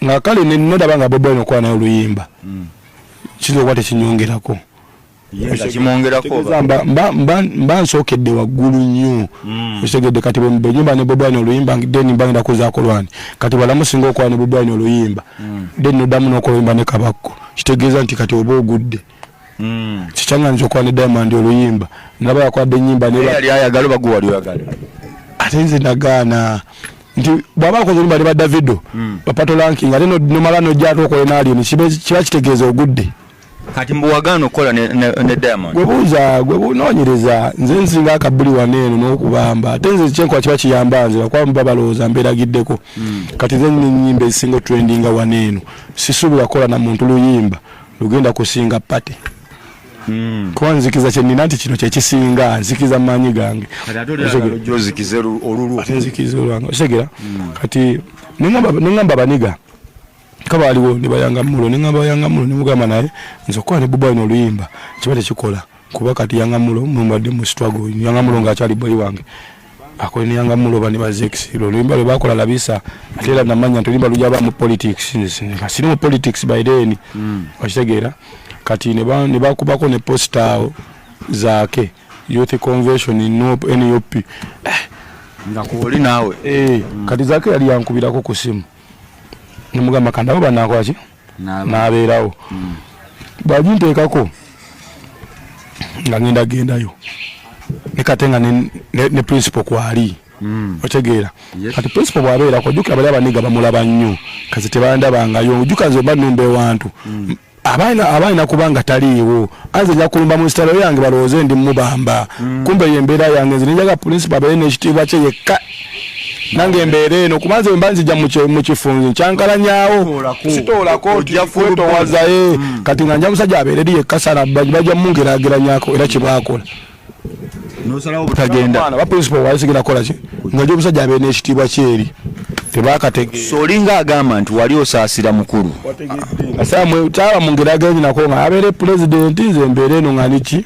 nga kale nedaba nga bobi wine okuba naye oluyimba hmm. kiyinza okuba tekinyongerako mba nsookedde waggulu nnyo hmm. ekitegedde kati benyimba ne bobi wine oluyimba then mba ngenda kuzaako lwani kati balamu singa okuba ne bobi wine oluyimba hmm. then nodamu nokoluyimba ne kabakko kitegeeza nti kati oba ogudde mm. kikyanga nti okwana diamond oluyimba naba yakwade enyimba neyali ayagala oba gwewali oyagala ate nze nagaana nti bwaba akoze olumba ne badavido mm. bapato lanking ate nomala nojjatu okole nalyo kiba kitegeeza ogudde kati mbuwagaana okukola ne, ne, ne diamond gwebuuza gwebunonyereza nze nsinga akabuli waneeno nokubamba ate nze kyenkola kiba kiyamba nze bakuba muba balowooza mberagiddeko mm. kati nze nyimba ezisinga otrendinga waneeno sisuubira kukola na muntu luyimba lugenda kusinga pate hmm. kuba nzikiza kyenina nti kino kyekisinga nzikiza maanyi gange otegera hmm. kati neŋamba baniga kaba waliwo nebayanga mulo neŋamba bayanga mulo nemugamba naye nze okukola ne bubaino oluyimba kiba tekikola kuba kati yangamulo mwembadde mu struggle yangamulo ngaakyali boyi wange akole ne yangamulo bani bazekisiro oluyimba lwe bakola labisa ate era namanya nti oluyimba lujaba mu politics siri mu politics by then mm. okitegeera kati ne bakubako ne posta awo zaake youth convention nup nup eh. nga kuoli naawe eh, mm. kati zaake yali yankubirako ku simu nemugamba kandabo banakwaki n'abeerawo hmm. bwaginteekako nga ngenda gendayo nekate nga ne principal kwali hmm. otegeera kati principal bwabeerako ojukira bali abaniga bamulaba nnyo kazi tebandabangayo ojuka nze oba numba ewantu hmm. abalina kuba nga taliiwo anze nja kulumba mu nsitalo yange balowooze ndi mubamba kumbe yembeera yange nze nenjaga principal abeere nekitiibwa kye yekka nange mbeera eno kuba nze mba nzija mukifunzi nkyankalanyawo sitoolako ojja kwetowazaye hmm. kati nga nja musajja abeereri yekasala bajja mungerageranyako era kyebakola nosalawo butagenda ba principal wali sigenda kola ki nga jo musajja abe n'ekitiibwa kyeri tebakatege solinga agamba nti wali osaasira mukulu asamwe taba mungerageranyi nako nga abeere president nze mbeere eno nga niki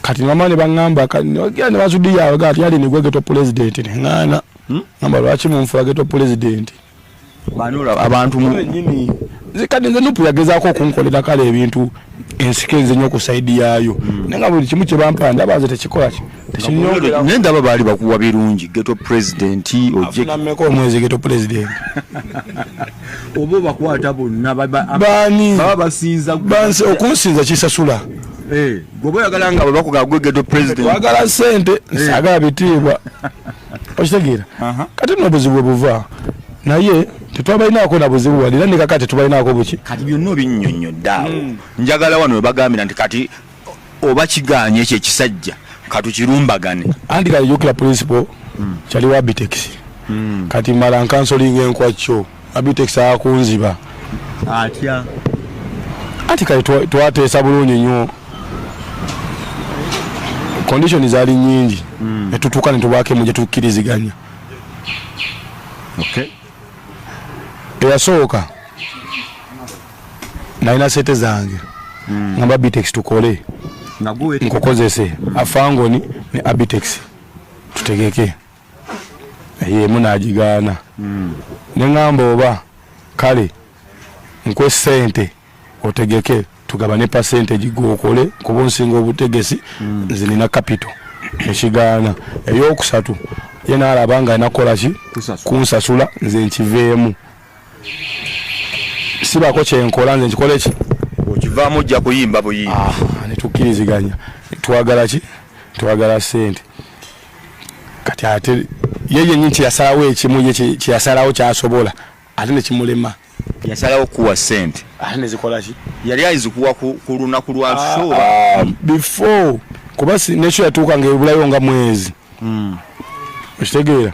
kati mama ne bangamba kati ne basudiya abaga ati yali nigwe geto president ne ngana hmm? ngamba lwaki mumfula geto president banula abantu mu nyini zikadi nze nupu yagezako okunkolera kale ebintu ensike nze nyo ku side yayo hmm. nenga buli kimu kye bampanda baze tekikola nendaba baali bakuwa birungi geto pulezidenti ojeameka omwezi geto pulezidenti oba obakwata bonna bani baba basinza bansi okunsinza kisasula eh, gwoba oyagala nga bwebakugaa gwe geto pulezidenti wagala sente eh. sagala bitiibwa okitegeera kati no obuzibu bwe buva naye tetwabalinaako na buzibu wali era nekaka tetubalinaako buki kati byonna obinyonyoddaawo hmm. njagala wano webagambira nti kati oba kiganye ekyo ekisajja katukirumbagane andi kayokera principal mm. kyali wa bitex mm. kati mala nkansolinga enkwakyo abitex akunziba atya ati kale twateesa bulungi nnyo condition zaali nyingi mm. netutuuka netubaako emu gyetukkiriziganya okay. eyasooka nalina sete zange mm. ngamba bitex tukole nkukozese mm. afangoni ne abitex tutegeke yemu nagigaana mm. nengamba oba kale nkwe sente otegeke tugabane percentage gwokole kuba onsinga obutegesi mm. nze nina capital ekigaana eyokusatu ye naalaba nga alina kukolaki kunsasula nze nkiveemu sibako kyenkola nze nkikola eki okivaamu ojja kuyimba buyimbi ah, netukkiriziganya twagala ki twagala sente kati ate ye yenyini kyeyasalawo ekimu ye kyeyasalawo kyasobola ate nekimulema yasalawo kuwa sente ate nezikolaki yali ayizikuwa ku lunaku lwa ah, show ah, before kuba nekyo yatuuka nga ebulayo nga mwezi hmm. okitegeera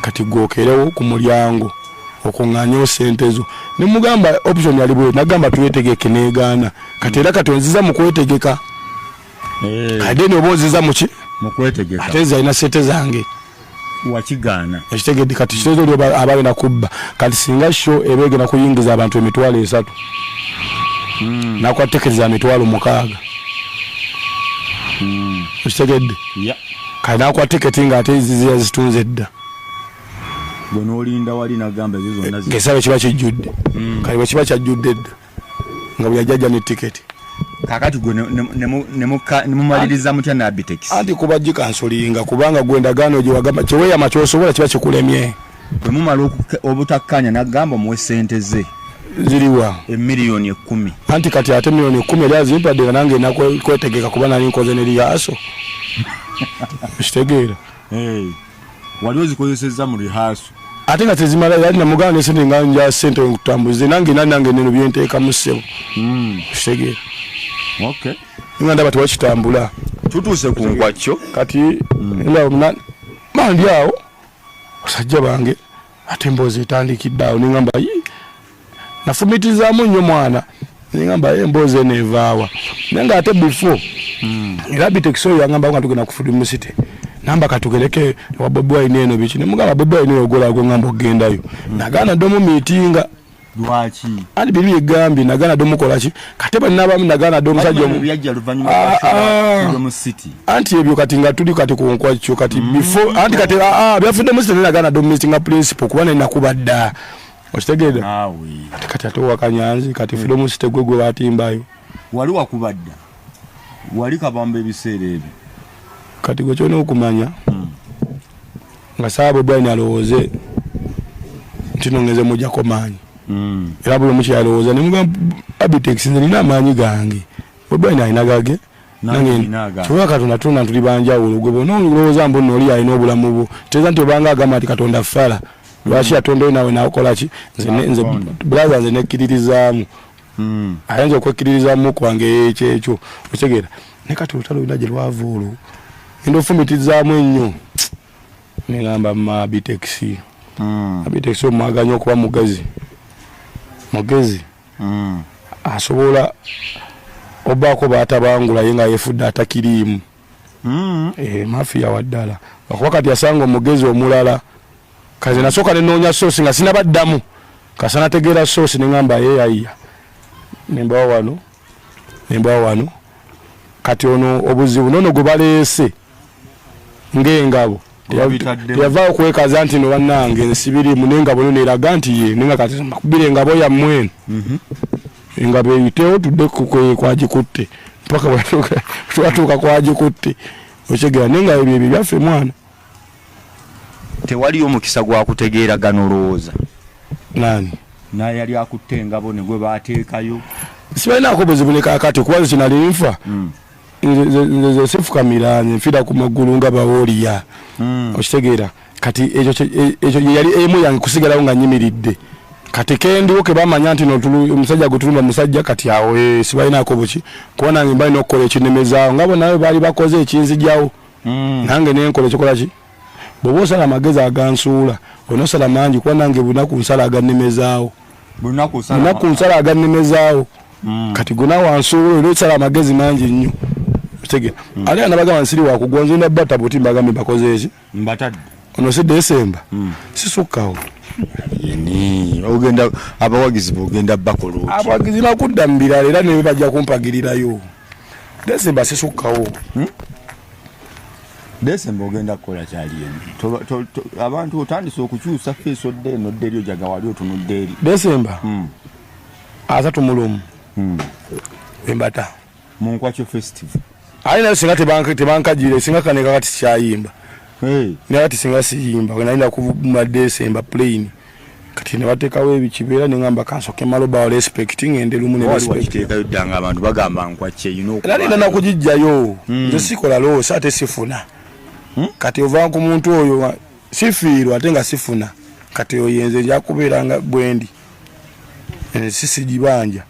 kati gwokerewo ku mulyango okung'anyewo sente zo ne mugamba option ali bwe nagamba twetegeke negaana kati era kati onziza mu kwetegeka eh. kadeni oba onziza muki mukwetegeka ate nze alina sente zange wakigaana ekitegedde kati kitezo lyo abaali nakubba kati singa sho eba egenda kuyingiza abantu emitwalo esatu hmm. nakuba tekeriza mitwalo mukaaga hmm. ekitegedde kale nakuwa tiketi nga ate zizi yazitunze edda gwe nolinda wali nagamba ezo zonna zi- ngesaba kiba kijjudde Mm. kale bwe kiba kyajjudde edda nga bwe yajjajja ne tiketi kakati gwe ne- ne- ne mu- ne muka- ne mumaliriza mutya n'abitekisi anti kuba gikansulinga kubanga gwe endagaano gyewagamba kyeweyama kyosobola kiba kikulemye bwe mumala obutakkaanya n'agamba omuwe ssente ze ziriwa emiliyoni ekkumi anti kati ate miliyoni ekkumi eri azimpadde nga nange nakwetegeka kuba nali nkoze ne liyaaso kitegeera wali ozikozesezza mu lihaaso ate nga tezimala yali namugana nesente nga nja sente nkutambuze nange nali nange neno byenteekamu ssebo hmm. kitegeera nga ndaba tewakitambula tutuuse ku nkwakyo kati hmm. mandi awo basajja bange ate emboozi etandikidde awo nengamba nafumitizaamu nnyo mwana nengamba ye emboozi eno evaawa naye nga ate before hmm. era bitekisoyo yangamba nga tugenda kufudi musite namba katugereke ewa bobi wine eno biki nemugamba bobi wine oyo ogolago ngamba okugendayo hmm. nagaana ddomu miitinga lwaki ani bibi yegambye nagana do mukola ki kate banna bamu nagana do musajja omu yajja luvanyuma ah, ah. lwa mu city anti ebyo kati nga tuli kati ku nkwa kyo kati mm. before anti kati a ah, a byafudde mu city nagana do missing a principle kuba nina kubadda okitegede nawe kati ate wakanyanzi kati mm. freedom city gwe gwe batimbayo wali wakubadda Wali kabamba ebiseera ebyo. Kati gwe kyona okumanya mm. nga saabo dwaine alowooze nti nongeze mujako maanyi mm. era buli omuki alowooza nemugamba abitex nze nina amaanyi gange odwaine alina gage kyoba katonda tuna tuli banjawulo gwe bona olowooza mbu nooli alina obulamu bwo teeza nti obanga agamba nti katonda fala lwaki mm. atondayo nawe nakolaki nze braha nze nekkiririzaamu hmm. ayinza okwekkiririzamu kwange ekyekyo okitegeera ne kati olutalo lulina gye lwava olwo enda ofumitizaamu ennyo negamba mabitexi hmm. abitexi omwaganya okuba mugezi mugezi hmm. asobola obaako baatabangulaye nga yefudde atakiriimu Mm, eh, mafia waddala okuba kati asanga omugezi omulala kaze nasooka nenoonya soosi nga sinabaddamu kasana tegeera soosi nengamba yeyayiya nembawa wano nembawa wano kati ono obuzibu nono gwe baleese ngaengabo teyava okwekaza nti no bannange nsibirimu nengabo nono eraga nti ye nenga kati nakubira engabo yammwenu mhm. nga beyitewo tudde kwagikutte mpaka bwebatuuka kwagikutte okyegera naye nga ebyo ebyo byaffe mwana tewaliyo omukisa gwakutegeera gano olowooza nani naye yali akutte engabo negwe bateekayo sibalinaako buzibu ne kakati kuba nze kinali nfa hmm. nze sifukamira nze nfira ku maggulu nga bawoliya hmm. okitegeera kati ekyo ekyo yali emu yange kusigalawo nga nyimiridde kati kendiwo kebamanya nti omusajja gwetulumba musajja kati awo eh, sibalinako buki kuba nange mbali nokukola ekinemezaawo nga bonawe baali bakoze ekinzijawo mm. nange nenkola ekikolaki bwoba osala amagezi agansuula olina osala mangi kuba nange bunaku nsala agannemezaawo bunaku nsala agannemezaawo mm. kati gona wansuula olina osala amagezi mangi nnyo otegera mm. ate anabagamba nsiri wakugwa nzenda batabuti mbagambe bakoze eki mbatadde ono si desemba hmm. sisukkawo yeni ogenda abawagizi bogenda bakoloti abawagizi nakudda mu birala era newe bajja kumpagirirayo desemba sisukkawo hmm? desemba ogenda kukola kyali eno abantu otandise okukyusa feesi odde eno odde eri ojaga wali otunudde eri desemba hmm. asatu mulumu embata mu nkwakyo festival ayi nayo singa tebankajire singa kaneka kati sikyayimba naye kati singa siyimba nayina kuvuma desemba plane kati nebatekawo ebikibeera nengamba kansoke maloba respect ngende lumu nalina nakugijjayo hmm. nze sikola loosi ate sifuna hmm? kati ova ku muntu oyo sifiirwa ate nga sifuna kati oyenze njakubeeranga bwendi eh, sisigibanja